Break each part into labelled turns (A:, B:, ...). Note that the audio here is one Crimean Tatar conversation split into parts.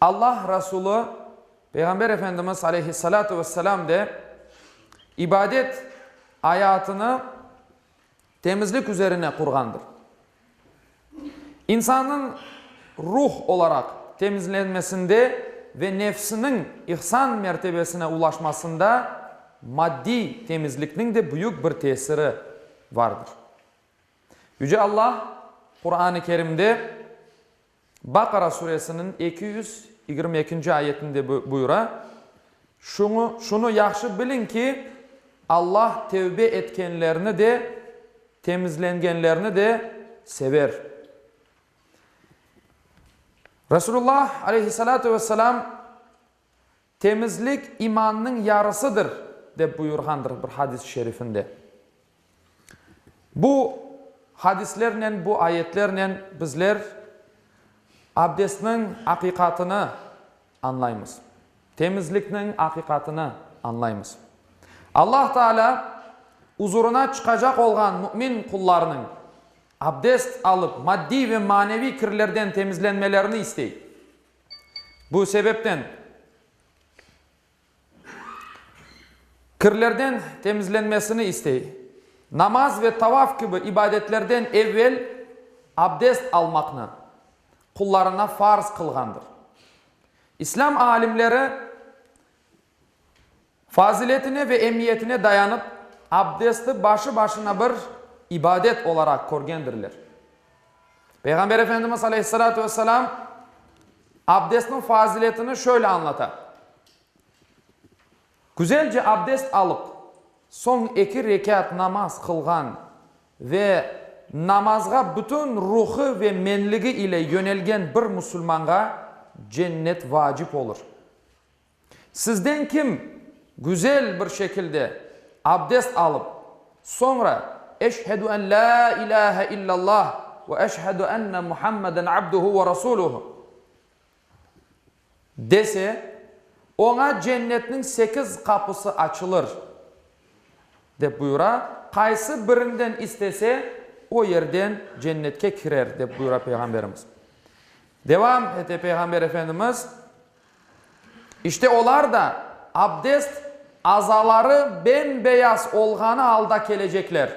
A: Alla Rasulü Peyğamber Efendimiz aleyhissalâtu vesselâm de ibadet ayatını temizlik üzerine qurğandır. İnsannıñ ruh olaraq temizlenmesinde ve nefsiniñ ihsan mertebesine ulaşmasında maddiy temizlikniñ de büyük bir tesiri vardır. Yüce Alla Quran-ı Kerimde Baqara suresiniñ eki yüz yigirmi ekinci ayetinde buyura, Şuñı, şunı yahşı biliñ ki, Alla tevbe etkenlerni de, temizlengenlerni de sever. Resulullah aleyhissalâtu vesselâm Temizlik imannıñ yarısıdır, dep buyurğandır bir hadis-i şerifinde. Bu hadislernen, bu ayetlernen bizler abdestniñ aqiqatını añlaymız, temizlikniñ aqiqatını añlaymız. Allah Taalâ uzurına çıqacaq olğan mümin qullarınıñ abdest alıp maddiy ve maneviy kirlerden temizlenmelerini istey. Bu sebepten kirlerden temizlenmesini istey. Namaz ve tavaf kibi ibadetlerden evvel abdest almaqnı qullarına farz qılğandır. İslâm alimleri Faziletine ve emiyetine dayanıp, abdesti başı başına bir ibadet olaraq körgendirler. Peyğamber Efendimiz aleyhissalâtu vesselâm abdestniñ faziletini şöyle añlata, Güzelce abdest alıp, soñ eki rekât namaz qılğan ve namazğa bütün ruhu ve menligi ile yönelgen bir musulmanğa cennet vacip olur. Sizden kim güzel bir şekilde abdest alıp, soñra Eşhedü en la ilâhe illallah ve eşhedü enne Muhammeden abduhu ve rasuluhu dese, oña cennetniñ sekiz qapısı açılır, dep buyura, qaysı birinden istese, o yerden cennetke kirer, dep buyura Peyğamberimiz. Devam ete Peyğamber Efendimiz, İşte olar da abdest azaları bem-beyaz olğanı alda kelecekler.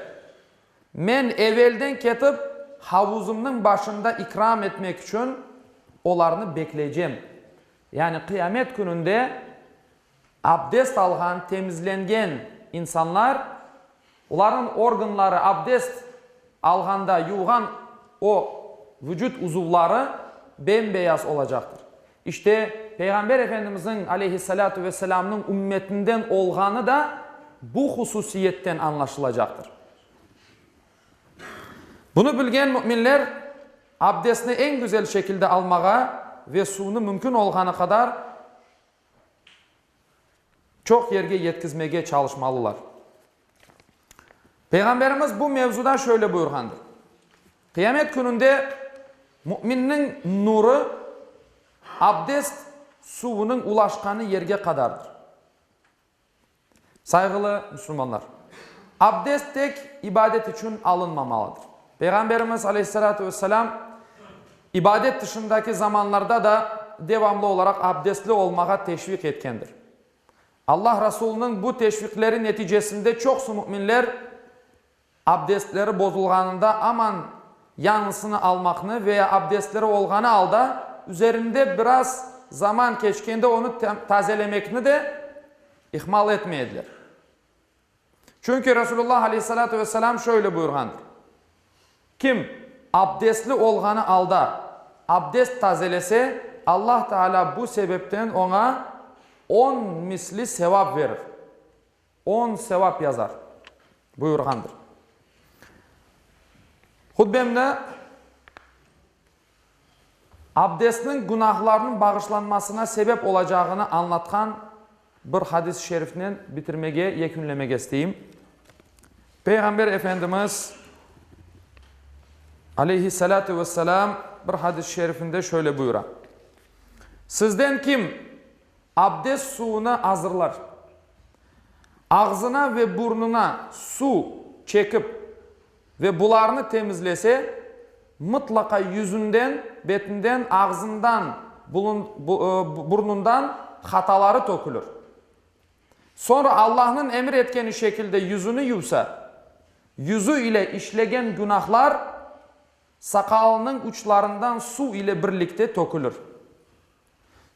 A: Men evelden ketip, havuzımnıñ başında ikram etmek içün olarnı bekleycem. Yani Qıyamet Kününde abdest alğan, temizlengen insanlar. Olarnıñ organları abdest alğanda yuvğan o vucut uzuvları bem-beyaz olacaqtır. İşte, Peyğamber Efendimizniñ, aleyhissalâtu vesselaamnıñ, ümmetinden olğanı da bu hususiyetten añlaşılacaqtır. Bunı bilgen müminler abdestni eñ güzel şekilde almağa ve suvnı mümkün olğanı qadar, çoq yerge yetkizmege çalışmalılar. Peyğamberimiz bu mevzuda şöyle buyurğandır, Qıyamet kününde müminniñ nuru abdest suvunıñ ulaşqanı yerge qadardır. Sayğılı müslümanlar! Abdest tek ibadet içün alınmamalıdır. Peyğamberimiz, aleyhissalâtu vesselâm, İbadet tışındaki zamanlarda da devamlı olaraq abdestli olmağa teşviq etkendir. Allah Rasulınıñ bu teşviqleri neticesinde çoqusı müminler abdestleri bozulğanında aman yañısını almaqnı veya abdestleri olğanı alda üzerinde biraz zaman keçkende onı tazelemekni de ihmal etmeydiler. Çünki Rasulullah aleyhissalâtu vesselâm şöyle buyurğandır, Kim abdestli olğanı alda abdest tazelese, Allah Taalâ bu sebepten oña on misli sevap verir, on sevap yazar, buyurğandır. Hutbemni. Abdestniñ günahlarnıñ bağışlanmasına sebep olacağını añlatqan bir hadis-i şerifnen bitirmege, yekünlemege isteyim. Peyğamber Efendimiz, aleyhissalâtu vesselâm, bir hadis-i şerifinde şöyle buyura, Sizden kim abdest suvunı azırlar, ağzına ve burnuna suv çekip Ve bularnı temizlese, mıtlaqa yüzünden, betinden, ağzından, burnundan hataları tökülür. Soñra Allahnıñ emir etkeni şekilde yüzüni yuvsa, yüzü ile işlegen günahlar saqalınıñ uçlarından suv ile birlikte tökülür.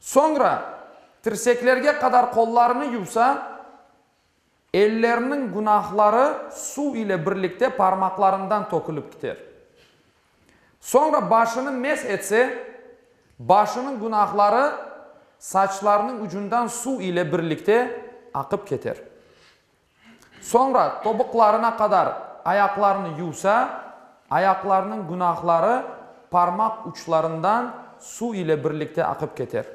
A: Soñra tirseklerge qadar qollarını yuvsa, Ellerniñ günahları suv ile birlikte parmaqlarından tökülip kiter. Soñra başını mesh etse, başınıñ günahları saçlarınıñ ucundan suv ile birlikte aqıp keter. Soñra tobuqlarına qadar ayaqlarını yuvsa, ayaqlarınıñ günahları parmaq uçlarından suv ile birlikte aqıp keter.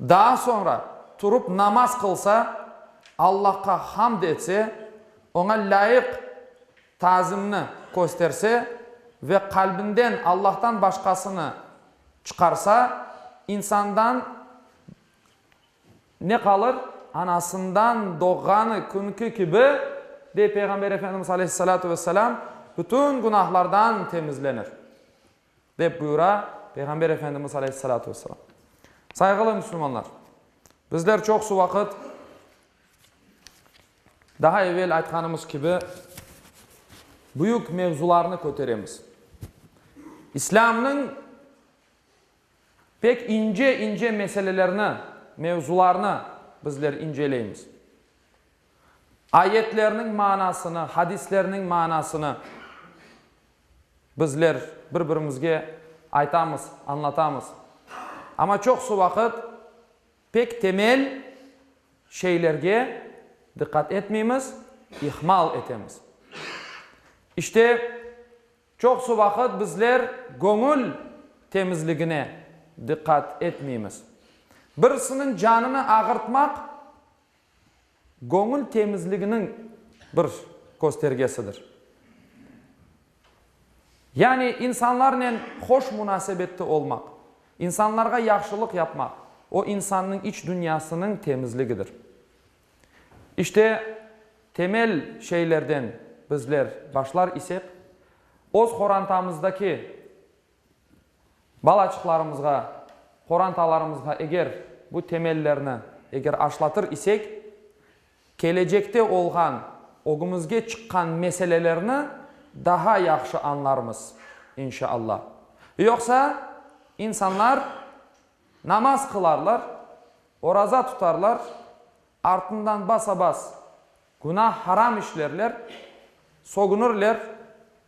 A: Daa soñra turup namaz qılsa, Allahqa hamd etse, Oña lâyıq tazimni kösterse ve qalbinden Allahtan başqasını çıqarsa, insandan ne qalır? Anasından doğğanı künki kibi, dey Peyğamber Efendimiz aleyhissalâtu vesselâm, bütün günahlardan temizlenir. dep buyura Peyğamber Efendimiz aleyhissalâtu vesselâm. Sayğılı müslümanlar, bizler çoqusı vaqıt, daha evel aytqanımız kibi, büyük mevzularnı köteremiz. İslâmnıñ pek ince-ince meselelerni, mevzularnı bizler inceleymiz. Ayetlerniñ manasını, hadislerniñ manasını. Bizler bir-birimizge aytamız, añlatamız. Amma çoqusı vaqıt pek temel şeylerge diqqat etmeymiz, ihmal etemiz. İşte, çoqusı vaqıt bizler göñül temizligine diqqat etmeymiz. Birisiniñ canını ağırtmaq, Göñül temizliginiñ bir köstergesidir. Yani insanlarnen hoş munasebette olmaq, insanlarğa yahşılıq yapmaq, o insannıñ iç dünyasınıñ temizligidir. İşte, temel şeylerden bizler başlar isek, öz qorantamızdaki, Balaçıqlarımızğa, qorantalarımızğa eger bu temellerni eger aşlatır isek, kelecekte olğan, ögümizge çıqqan meselelerni daha yahşı añlarmız, inşa Alla. Yoqsa, insanlar namaz qılarlar, oraza tutarlar, artından basa-bas günah, haram işlerler, sogunırler,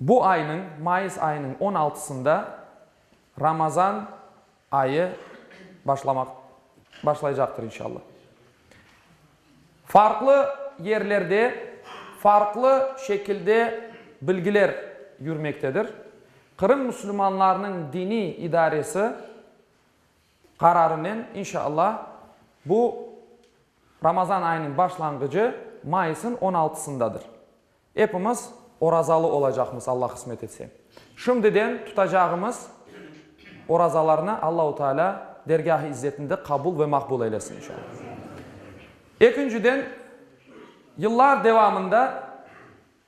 A: Bu aynıñ, mayıs ayınıñ on altısında Ramazan ayı başlamaq, başlaycaqtır inşallah. Farqlı yerlerde farqlı şekilde bilgiler yürmektedir. Qırım müslümanlarınıñ diniy idaresi qararınen inşallah bu Ramazan ayınıñ başlanğıcı mayısıñ on altısındadır. Epimiz orazalı olacaqmız, Alla qısmet etse. Şimdiden tutacağımız orazalarnı Allahu Teala dergâh-ı izzetinde qabul ve maqbul eylesin, inşallah. Ekinciden, yıllar devamında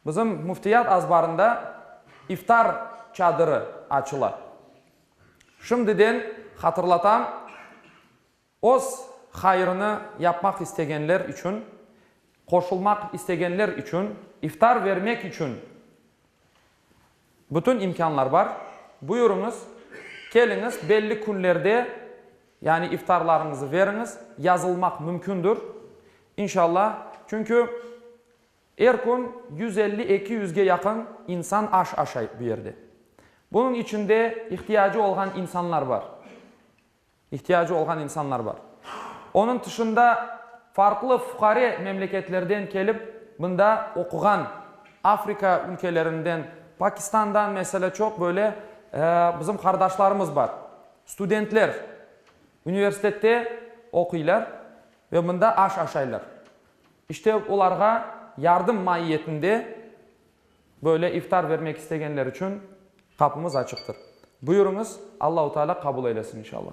A: bizim Müftiyat azbarında iftar çadırı açıla. Şimdiden hatırlatam. Öz hayırını yapmaq istegenler içün, qoşulmaq istegenler içün, iftar vermek içün bütün imkânlar bar. Buyurıñız, keliñiz, belli künlerde, yani iftarlarıñızı veriñiz, yazılmaq mümkündir, inşalla, çünki er kün yüz elli, eki yüzge yaqın insan aş aşay bu yerde. Bunıñ içinde ihtiyacı olğan insanlar bar. İhtiyacı olğan insanlar bar. Onıñ tışında farqlı fuqare memleketlerden kelip bında oquğan, Afrika ülkelerinden, Pakistandan, mesele, çoq böyle bizim qardaşlarımız bar. Studentler universitette oquylar ve bında aş aşaylar. İşte olarğa yardım maiyetinde Böyle iftar bermek istegenler içün qapımız açıqtır. Buyurıñız, Allahu Teala qabul eylesin inşallah.